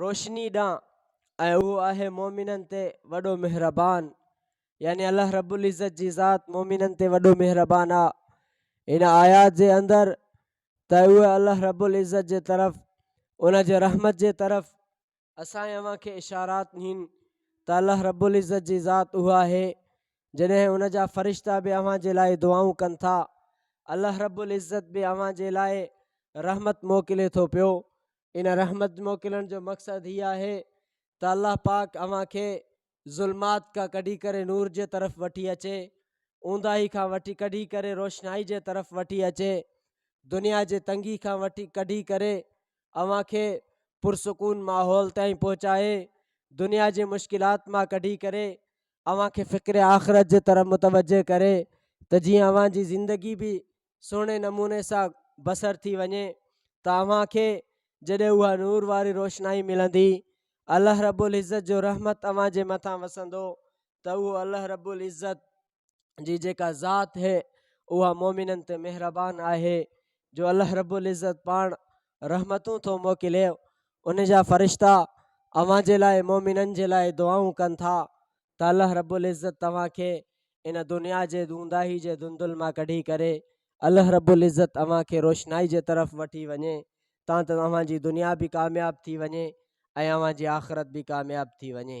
روشني ڏانهن ۽ اهو آهي مؤمنن تي وڏو مهربان يعني الله رب العزت جي ذات مؤمنن تي وڏو مهربان آ ان آيات جي اندر ته اهو الله رب العزت جي طرف ان جي رحمت جي طرف اسان اوهان کي اشارات نهن ته الله رب العزت جي ذات اهو آهي جڏهن ان جا فرشتا به اوهان جي لاء دعائون ڪن ٿا الله رب العزت به اوهان جي لاء رحمت موڪلي ٿو پيو ان رحمت موڪلڻ جو مقصد هي آهي ته الله پاڪ اوهان کي ظلمات کا ڪڍي ڪري نور جي طرف وٺي اچي اونداهي کان وٺي ڪڍي ڪري روشنائي جي طرف وٺي اچي دنيا جي تنگي کان وٺي ڪڍي ڪري اوهان کي پرسڪون ماحول تائين پهچائي دنيا جي مشڪلات مان ڪڍي ڪري اوهان کي فڪر آخرت جي طرف متوجه ڪري ته جيئن اوهان جي زندگي به سهڻي نموني سان بصر ٿي وڃي ته اوهان کي جڏهن اها نور واري روشنائي ملندي الله رب العزت جو رحمت اوهان جي مٿان وسندو ته اهو الله رب العزت جي جيڪا ذات هي اها مومنن تي مهربان آهي جو الله رب العزت پاڻ رحمتون ٿو موڪلي ان جا فرشتا اوهان جي لاء مومنن جي لاء دعائون ڪن ٿا ته الله رب العزت توهان کي ان دنيا جي دونداهي جي دندل مان ڪڍي ڪري الله رب العزت اوهان کي روشنائي جي طرف وٺي وڃي تان ته اوهان جي دنيا به ڪامياب ٿي وڃي ۽ اوهان جي آخرت به ڪامياب ٿي وڃي.